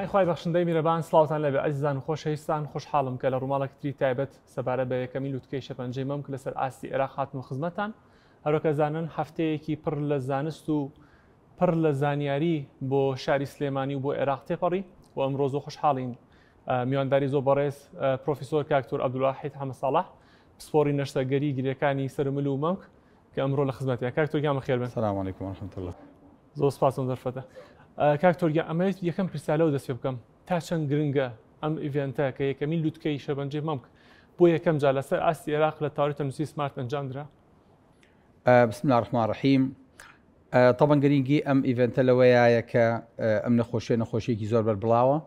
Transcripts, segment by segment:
پەنای خوای بەخشندەی میرەبان سڵاوتان لەبێ ئەزیزان و خۆشەویستان خۆشحاڵم کە لە ڕووماڵێکی تری تایبەت سەبارەت بە یەکەمین لوتکەی شەپەنجەی مەمک لەسەر ئاستی عێراق هاتمە خزمەتتان هەرۆکە زانن هەفتەیەکی پڕ لە زانست و پڕ لە زانیاری بۆ شاری سلێمانی و بۆ عێراق تێپەڕی و ئەمڕۆ زۆ خۆشحاڵین میوانداری زۆر بەڕێز پرۆفیسۆر کاکتۆر عبدالواحید حەمە ساڵح پسپۆڕی نەشتەرگەری گرێکانی سەرمل و مەمک کە ئەمڕۆ لە خزمەتە کاکتۆر گیان بەخێر بن سلام علیکم ورحمة الله زۆر سپاسم دەرفەتە کاکتۆر گیان ئەمەوێت یەکەم پرسیار لەو دەست پێ بکەم تا چەند گرنگە ئەم ئیڤێنتە کە یەکەمین لوتکەی شەبەنجەی مەمک بۆ یەکەم جار لەسەر ئاستی عێراق لە تاوری تەندروستی سمارت ئەنجامدرا بسم الله الرحمن الرحیم طبعا گرنگی ئەم ئیڤنتە لەوەیە کە ئەم نەخۆشیە نەخۆشیێکی زۆر بەربڵاوە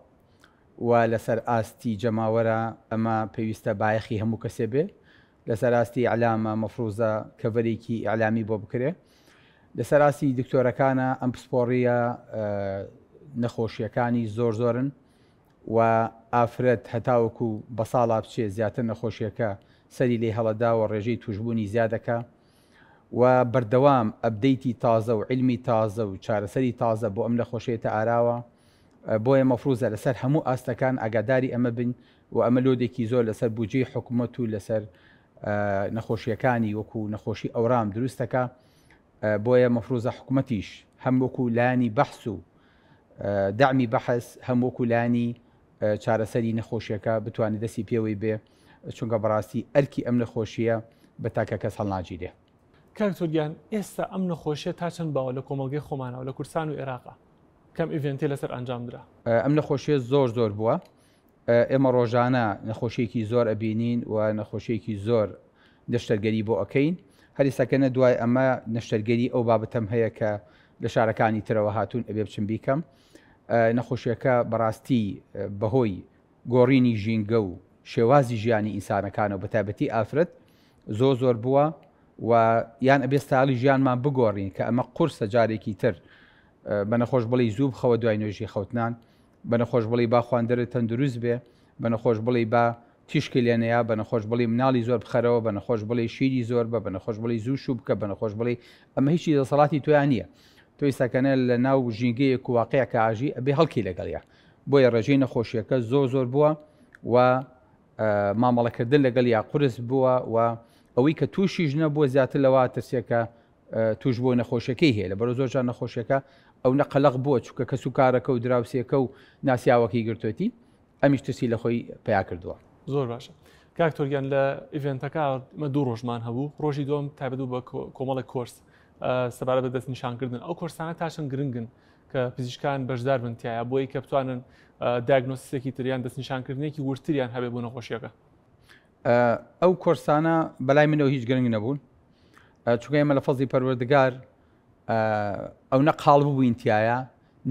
و لەسەر ئاستی جەماوەرە ئەمە پێویستە بایەخی هەموو کەسێ بێ لەسەر ئاستی ئیعلامە مەفروزە کەڤەرێکی ئیعلامی بۆ بکرێ لەسەر ئاستی دکتۆرەکانە ئەم پسپۆڕیە نەخۆشیەکانی زۆر زۆرن و ئافرەت هەتاوەکو بەساڵا بچێ زیاتر نەخۆشیەکە سەری لێ هەڵەداوە ڕێژەی توشبوونی زیادەکا و بەردەوام ئەپدەیتی تازە و عیلمی تازە و چارەسەری تازە بۆ ئەم نەخۆشەیە تە ئاراوە بۆیە مەفروزە لەسەر هەموو ئاستەکان ئاگاداری ئەمە بن و ئەمە لۆدێکی زۆر لەسەر بوجەی حکومەت و لەسەر نەخۆشیەکانی وەکو نەخۆشی ئەورام دروستەکە بۆیە مەفروزە حکومەتیش هەم وەکو لانی بەحس و دەمی بەحس هەم وەکو لانی چارەسەری نەخۆشیەکە بتوانێت دەستی پێوەی بێ چونکە بەڕاستی ئەرکی ئەم نەخۆشییە بە تاکە کەس هەڵناگیرێ. کاک دکتۆر گیان ئێستا ئەم نەخۆشیە تا چەند باوە لە کۆمەڵگەی خۆمانەوە لە کوردستان و ئێراقا کەم ئیڤێنتی لەسەر ئەنجام درا؟ ئەم نەخۆشیە زۆر زۆر بووە ئێمە ڕۆژانە نەخۆشیەکی زۆر ئەبینین و نەخۆشیەکی زۆر نەشتەرگەری بۆ ئەکەین هەریسەکەنە دوای ئەمە نەشتەرگەری ئەو بابەتەم هەیە کە لە شارەکانی ترەوە هاتوون ئەبێ بچم بیکەم نەخۆشیەکە بەڕاستی بەهۆی گۆڕینی ژینگە و شێوازی ژیانی ئینسانەکانەوە بە تایبەتی ئافرەت زۆر زۆر بووە و یان ئەبێ ستایڵی ژیانمان بگۆڕین کە ئەمە قورسە جارێکی تر بە نەخۆش بڵێ زوو بخەوە دوای نوێژی خەوتنان بە نەخۆش بڵێ با خواندەرە تەندروست بێ بە نەخۆش بڵێ با تیشکی لێنەیە بە نەخۆش بڵی مناڵی زۆر بخەرەوە بە نەخۆش بڵی شیری زۆر بە بە نەخۆش بڵی زوو شوو بکە بە نەخۆش بڵی ئەمە هیچی دەسەڵاتی تویان نییە تۆی سەکەنە لە ناو ژینگەیەک واقعەکە ئاژی ئەبێ هەڵکی لەگەڵە بۆیە ڕێژەی نەخۆشیەکە زۆر زۆر بووە و مامەڵەکردن لەگەڵ یا قرس بووە و ئەوەی کە تووشی ژنە بۆ زیاتر لەوا ترسێکە توش بۆ نەخۆشیەکەی هەیە لە بەرە زۆرجان نەخۆشیەکە ئەو نەقلق بووە چکە کەس و کارەکە و دراوسێکە و ناسیاوەکەی گرتوەتی ئەمیش ترسی لە خۆی پیا کردووە زۆر باشە کاکتۆریان لە ئیڤێنتەکە مە دوو ڕۆژمان هەبوو ڕۆژی دۆم تابدو بە کۆمەڵی کۆرس سەبارە بە دەست نیشانکردن ئەو کۆرسانە تاشن گرنگن کە پزیشکان بەشدار بن تایە بۆی کە بتوانن داگنۆسیسێکی تریان دەستنیشانکردنێکی ورتریان هەبێ بوو نەخۆشیەکە ئەو کۆرسانە بەلای منەوە هیچ گرنگ نەبوون چونکە ئێمە لە فەزی پەروەردگار ئەو نە قاڵ ببووین تایە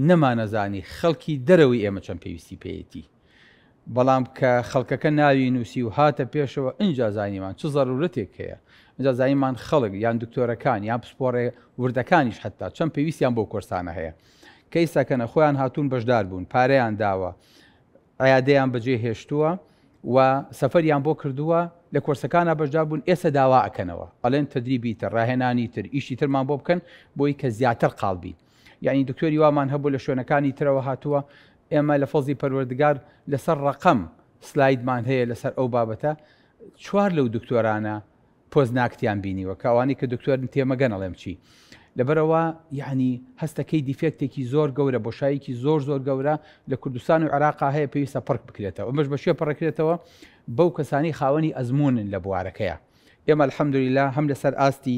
نەمانەزانی خەڵکی دەرەوەی ئێمە چەند پێویستی پێیەتی بەڵام کە خەڵکەکە ناوی نووسی و هاتە پێشەوە ئینجا زانیمان چ زەرورەتێک هەیە، ئینجا زانیمان خەڵک یان دکتۆرەکان یان پسپۆڕێ وردەکانیش حەتتا چەند پێویستیان بەو کۆرسانە هەیە کە ئیستا کەنە خۆیان هاتوون بەشدار بوون پارەیان داوە عیادەیان بەجێ هێشتووە و سەفەریان بۆ کردووە لە کۆرسەکانە بەشدار بوون ئێستا داوا ئەکەنەوە ئەڵێن تەدریبی تر ڕاهێنانی تر ئیشی ترمان بۆ بکەن بۆی کە زیاتر قاڵ بین یانی دکتۆری وامان هەبوو لە شوێنەکانی ترەوە هاتووە ئێمە لە فەزلی پەروەردگار لەسەر ڕەقەم سلایدمان هەیە لەسەر ئەو بابەتە چوار لەو دکتۆرانە پۆزناکتیان بینیوە کاوانی کە دکتۆرن تێمەگەن ئەڵێم چی لەبەرەوە یعنی هەستەکەی دیفێکتێکی زۆر گەورە بۆ شایەکی زۆر زۆر گەورە لە کوردستان و عراقا هەیە پێویستە پڕک بکرێتەوە ئەمەش بە شێ پڕکرێتەوە بەو کەسانی خاوەنی ئەزمونن لە بوارەکەیە ئێمە الحەمدوریلا هەم لەسەر ئاستی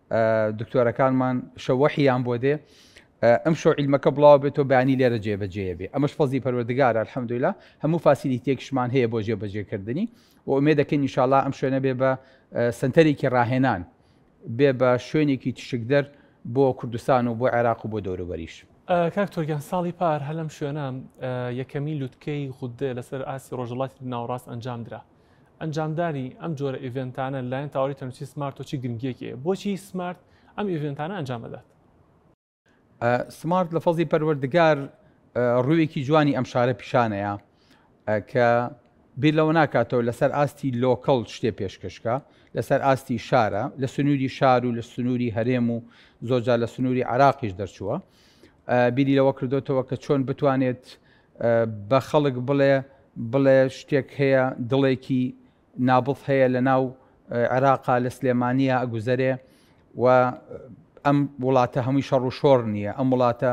دکتۆرەکانمان شە وەحیان بۆ دێ ئەم شۆ عیلمەکە بڵاو بێت و بەیانی لێرە جێبەجێ بێ ئەمەش فەزی پەروەردگار الحمدلله هەموو فاسیلی تێکشمان هەیە بۆ جێبەجێکردنی و ئومێ دەکەین انشاءالله ئەم شوێنە بێ بە سنتەرێکی ڕاهێنان بێ بە شوێنێکی تشکدەر بۆ کوردستان و بۆ عێراق و بۆ دەوروبەریش کاک تۆگیان ساڵی پار هەلم شوێنە یەکەمی لوتکەی غودێ لەسەر ئاسی ڕۆژەڵاتی ناوڕاست ئەنجام درا ئەنجامدانی ئەم جۆرە ئیڤێنتانە لەلایەن تاوەری تەندروستی سمارت تۆ چی گرنگییەکی هەیە؟ بۆچی سمارت ئەم ئیڤێنتانە ئەنجام ئەدات؟ سمارت لە فەزڵی پەروەردگار ڕوویەکی جوانی ئەم شارە پیشانەیە کە بیر لەوە ناکاتەوە لەسەر ئاستی لۆکەڵ شتێ پێشکەشکە لەسەر ئاستی شارە لە سنووری شار و لە سنووری هەرێم و زۆجار لە سنووری عراقیش دەرچووە بیری لەوە کردوتەوە کە چۆن بتوانێت بە خەڵک بڵێ بڵێ شتێک هەیە دڵێکی نابض هەیە لە ناو عێراقا لە سلێمانیە ئەگوزەرێ و ئەم وڵاتە هەمووی شەڕ و شۆڕ نییە ئەم وڵاتە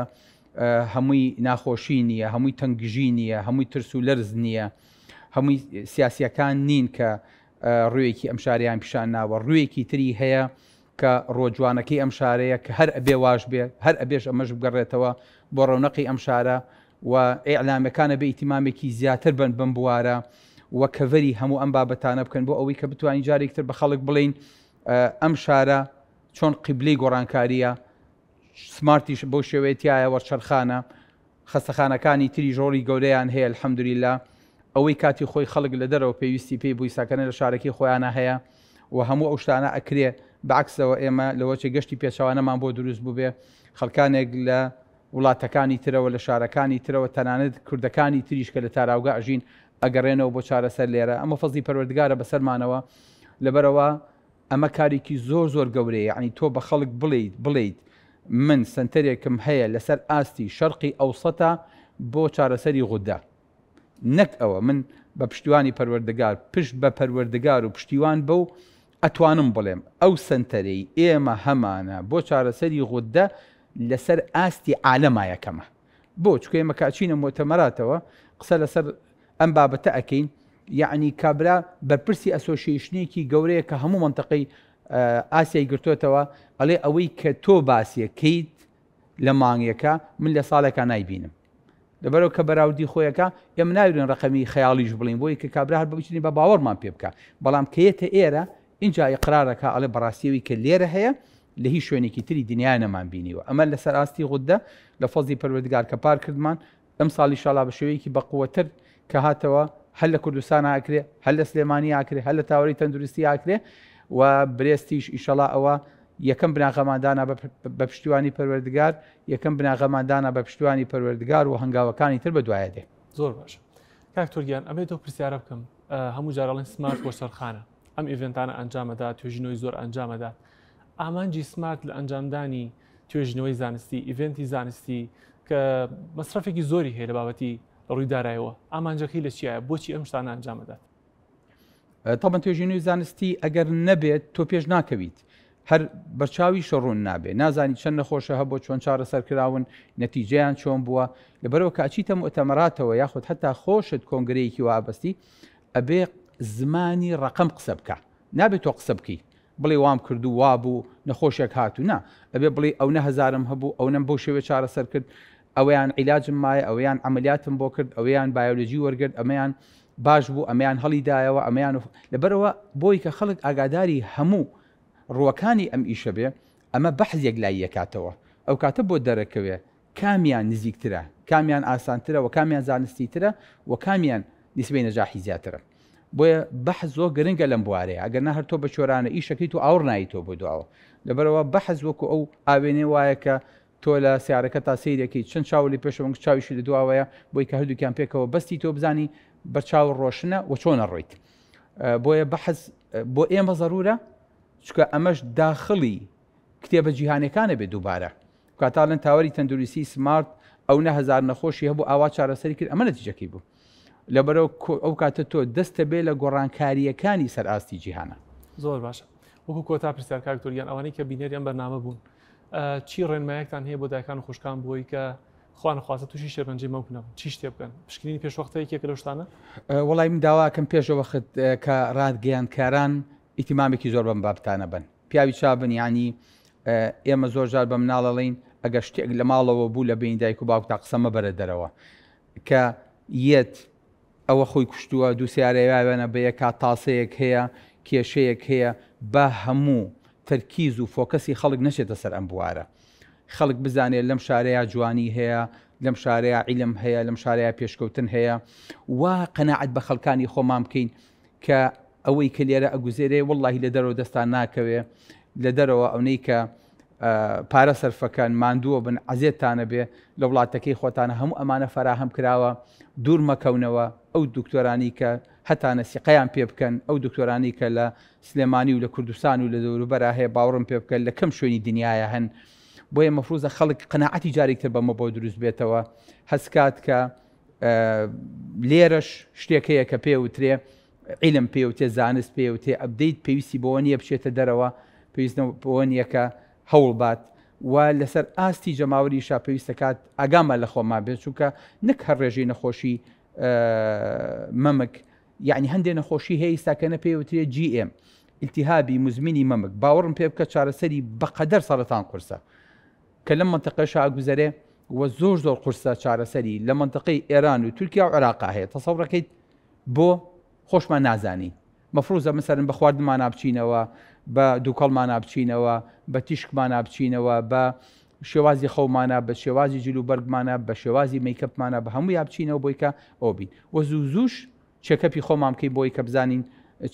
هەمووی ناخۆشی نییە هەمووی تەنگژی نییە هەمووی ترس و لەرز نییە هەمووی سیاسیەکان نین کە ڕوویەکی ئەم شاریان پیشان ناوە ڕوویەکی تری هەیە کە ڕۆ جوانەکەی ئەم شارەیە کە هەر ئەبێ واش بێ هەر ئەبێش ئەمەش بگەڕێتەوە بۆ ڕەونەقی ئەم شارە و ئیعلامەکان ئەبێ ئیتیمامێکی زیاتر بەن بەم بوارە و کەڤەری هەموو ئەم بابەتانە بکەن بۆ ئەوەی کە بتوانین جارێکی تر بە خەڵک بڵێین ئەم شارە چۆن قیبلەی گۆڕانکارییە سمارتیش بەو شێوەیە تیایە وەرچەرخانە خەستەخانەکانی تریش ڕۆڵی گەورەیان هەیە الحمدللە ئەوەی کاتی خۆی خەڵک لە دەرەوە پێویستی پێی بووی سەکەنە لە شارەکەی خۆیانە هەیە و هەموو ئەو شتانە ئەکرێ بەعەکسەوە ئێمە لەوەچێ گەشتی پێچەوانەمان بۆ دروست بووبێ خەڵکانێک لە وڵاتەکانی ترەوە لە شارەکانی ترەوە تەنانەت کوردەکانی تریش کە لە تاراوگە ئەژین ئەگەڕێنەوە بۆ چارەسەر لێرە ئەمە فەزڵی پەروەردگارە بەسەرمانەوە لەبەرەوە ئەمە کارێکی زۆر زۆر گەورەیە یەعنی تۆ بە خەڵک بڵێیت بڵێیت من سەنتەرێکم هەیە لەسەر ئاستی شەرقی ئەوسەتە بۆ چارەسەری غودە نەک ئەوە من بە پشتیوانی پەروەردگار پشت بە پەروەردگار و پشتیوان بەو ئەتوانم بڵێم ئەو سەنتەرەی ئێمە هەمانە بۆ چارەسەری غودە لەسەر ئاستی عالەمایەکەمە. بۆ چکە ئێمە کاچینە مۆتەمەراتەوە قسە لەسەر ئەم بابەتە ئەکەین یعنی کابرا بەرپرسی ئەسۆشیشنێکی گەورەیە کە هەموو منتەقەی ئاسیای گرتوتەوە ئەڵێ ئەوەی کە تۆ باسیەکەیت لە مانگێکە من لە ساڵێکە نایبینم لەبەرەوە کە بەراودی خۆیەکە ئێمە ناوێن ڕقەمی خەیاڵیش بڵین بۆی کە کابرا هەر بچنی بە باوەڕمان پێ بکە بەڵام کەیەتە ئێرە ئینجا ئیقرار ئەکا ئەڵێ بەڕاستی ئەوی کە لێرە هەیە لە هیچ شوێنێکی تری دنیا نەمان بینیوە ئەمە لەسەر ئاستی غوددە لە فەزڵی پەروەردگار کە پار کردمان ئەمساڵ ئیشاڵا بە شێوەیەکی بەقوەتر کە هاتەوە هەر لە کوردستان ئاکرێ هەر لە سلێمانی ئاکرێ هەر لە تاوەری تەندروستی ئاکرێ و برێستیش ئیشەڵا ئەوە یەکەم بناغەماندانا بە پشتیوانی پەروەردگار یەکەم بناغەماندانا بە پشتیوانی پەروەردگار و هەنگاوەکانی تر بە دوایە دێ زۆر باش کاکتۆریان ئەمێ تۆ پرسیارە بکەم هەموو جارڵێن سمارت بۆ سەرخانە ئەم ئیڤێنتانە ئەنجام ئەدات، توێژینەوەی زۆر ئەنجام ئەدات. ئامانجی سمارت لە ئەنجامدانی توێژینەوەی زانستی، ئیڤێنتی زانستی کە مەسرەفێکی زۆری هەیە لە بابەتی لە ڕووی دارایەوە، ئامانجەکەی لە چیایە؟ بۆچی ئەم شتانە ئەنجام ئەدات؟ تەبەن توێژینەوەی زانستی ئەگەر نەبێت تۆ پێش ناکەویت. هەر بەرچاوی شەڕوون نابێ نازانی چەند نەخۆشە هە بۆ چۆن چارە سەرکراون نەتیجیان چۆن بووە لەبەرەوە کاچیتە مؤتەمەراتەوە یاخود حتا خۆشت کۆنگرەیەکی وابستی ئەبێ زمانی ڕەقەم قسە بکا نابێ تۆ قسە بکەی بڵێ وام کردو وابوو نەخۆشێک هاتو نا ئەبێ بڵێی ئەونە هەزارم هەبوو ئەونەم بەو شێوە چارەسەر کرد ئەوەیان عیلاجم مایە ئەوەیان عەمەلیاتم بۆ کرد ئەوەیان بایۆلۆجی وەرگرت ئەمەیان باش بوو ئەمەیان هەڵی دایەوە ئەمەیان لەبەرەوە بۆی کە خەڵک ئاگاداری هەموو ڕووەکانی ئەم ئیشە بێ ئەمە بەحزێک لای یەکاتەوە ئەو کاتە بۆ دەرەکەوێ کامیان نزیکترە، کامیان ئاسانترە و کامیان زانستیترە و کامیان نیسبەی نەجاحی زیاترە. بۆیە بەحس زۆر گرنگە لەم بوارەیا، ئەگەر نا هەر تۆ بە چۆرانە ئیش ئەکەیت و ئاوڕ نایەیتەوە بۆ دواوە. لەبەرئەوە بەحس وەکو ئەو ئاوێنەی وایە کە تۆ لە سەیارەکەتا سەیری ئەکەیت چەند چاوە لە پێشەوەن و چاویشی لە دواوەیە بۆی کە هەردووکیان پێکەوە بەستیتەوە بزانی بە چاوە ڕۆشنە و چۆن ئەڕۆیت. بۆیە بەحس بۆ ئێمە زەروورە چونکە ئەمەش داخڵی کتێبە جیهانیەکانە بێت دووبارە. کاتالن تاوەری تەندروستی سمارت ئەو نە هەزار نەخۆشی هەبوو ئاوا چارەسەری کرد ئەمە نەتیجەکەی بوو لەبەرەوە ئەو کاتە تۆ دەستە بێ لە گۆڕانکاریەکانی سەر ئاستی جیهانە زۆر باشە وەکو کۆتا پرسیار کاکتۆریان ئەوانەی کە بینەری ئەم بەرنامە بوون چی ڕێنمایەکتان هەیە بۆ دایکان و خوشکان بۆی کە خوانخوازە تووشی شێرپەنجی مەکنەوە چی شتێ بکەن پشکنینی پێشوەختەیەکێک لە شتانە وڵی من داواکەم پێشەوەخت کە ڕادگەیانکاران ئیتیمامێکی زۆر بەم بابتانە بن پیاوی چابن یانی ئێمە زۆر جار بە مناڵەڵین ئەگەر شتێک لە ماڵەوە بوو لە بین دایک و باوک تا قسە مەبەرە دەرەوە کە یەت ئەوە خۆی کوشتووە دوو سیارەیاوێنە بە یەکا تاسەیەک هەیە کێشەیەک هەیە با هەموو تەرکیز و فۆکەسی خەڵک نەچێتە سەر ئەم بوارە خەڵک بزانێت لەم شارەیە جوانی هەیە لەم شارەیە عیلم هەیە لەم شارەیە پێشکەوتن هەیە و قەنەعەت بە خەڵکانی خۆمان بکەین کە ئەوەی کە لێرە ئەگوزێرێ واللهی لە دەرەوە دەستان ناکەوێ لە دەرەوە ئەونەی کە پارە سەرفەکەن ماندووە بن عزێتانە بێ لە وڵاتەکەی خۆتانە هەموو ئەمانە فەراهەم کراوە دوور مەکەونەوە ئەو دکتۆرانی کە هەتانە سیقیان پێ بکەن ئەو دکتۆرانی کە لە سلێمانی و لە کوردستان و لە دەوروبەرا هەیە باوەڕم پێ بکەن لە کەم شوێنی دنیاە هەن بۆیە مەفروزە خەڵک قەنەعەتی جارێکتر بەمە بۆ دروست بێتەوە هەستکات کە لێرەش شتێک هەیە کە پێ وترێ عیلم پێ وتێ زانست پێ وتێ ئەبدەیت پێویستی بۆ نییە بچێتە دەرەوە پێویستە بۆ نیەکە هەوڵ بات و لەسەر ئاستی جەماوەری شا پێویستە کات ئاگامان لە خۆمان بێت چونکە نەک هەر ڕێژەی نەخۆشی مەمک یعنی هەندێک نەخۆشی هەیە ئیستاکەنە پێ وترێ GM التهابی مزمینی مەمک باوەڕم پێ بکە چارەسەری بەقەدەر سەرەتان قورسە کە لەم مەنتەقەشا ئەگوزەرێ و زۆر زۆر قورسە چارەسەری، لە مەنتەقەی ئێران و تورکیا و عێراقا هەیە، تەسەور ئەکەیت بۆ خۆشمان نازانین، مەفروزە مەسەلەن بە خواردنمانا بچینەوە، بە دووکەڵمانا بچینەوە، بە تیشکمانا بچینەوە، بە شێوازی خەومانا، بە شێوازی جل و بەرگمانا، بە شێوازی مەیکەپمانا، بە هەموویا بچینەوە بۆی کە ئەوە بین و زوو زووش چێکەپی خۆمان بکەین بۆی کە بزانین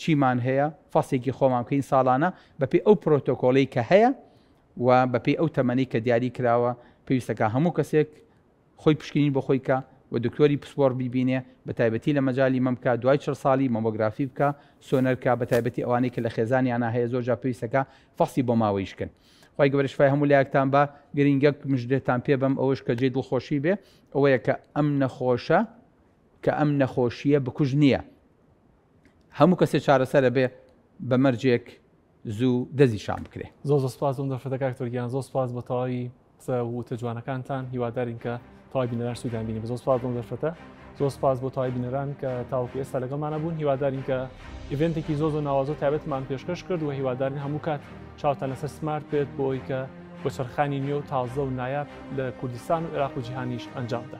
چیمان هەیە، فەسێکی خۆمان بکەین ساڵانە بە پێی ئەو پرۆتۆکۆڵەی کە هەیە، و بە پێی ئەو تەمەنەی کە دیاری کراوە پێویستە کە هەموو کەسێک خۆی پشکنین بۆ خۆی کا و دکتۆری پسپۆڕ بیبینێ بە تایبەتی لە مەجالی مەم کا دوای چڵ ساڵی مەمۆگرافی بکا سۆنەر کا بە تایبەتی ئەوانەی کە لە خێزانیانا هەیە زۆر جار پێویستە کە فەحسی بۆ ماوەیی شکن خوای گەورە شفای هەموو لایەکتان با گرینگەک مژدەتان پێ بەم ئەوەش کە جێی دڵخۆشی بێ ئەوەیە کە ئەم نەخۆشە کە ئەم نەخۆشییە بکوژ نییە هەموو کەسێ چارەسەرە بێ بە مەرجێک زوو دەزی شان بکرێ زۆ زۆ سپاس بۆم دەفرەتە کاک تۆرگیان زۆ سپاس بۆ تەواوی قسە وتە جوانەکانتان هیوادارین کە تەواوی بینەران سوودیان بینی بە زۆ سپاس بۆم دەفرەتە زۆ سپاس بۆ تەواوی بینەران کە تاوەکو ئێستا لەگەڵمانە بوون هیوادارین کە ئیڤنتێکی زۆ زۆ ناوازۆ تایبەتمان پێشکەش کرد و هیوادارین هەموو کات چاوتان لەسەر سمارت بێت بۆ ئەوی کە بۆ چرخانی نوێ و تازە و نایاب لە کوردستان و عێراق و جیهانیش ئەنجامدا.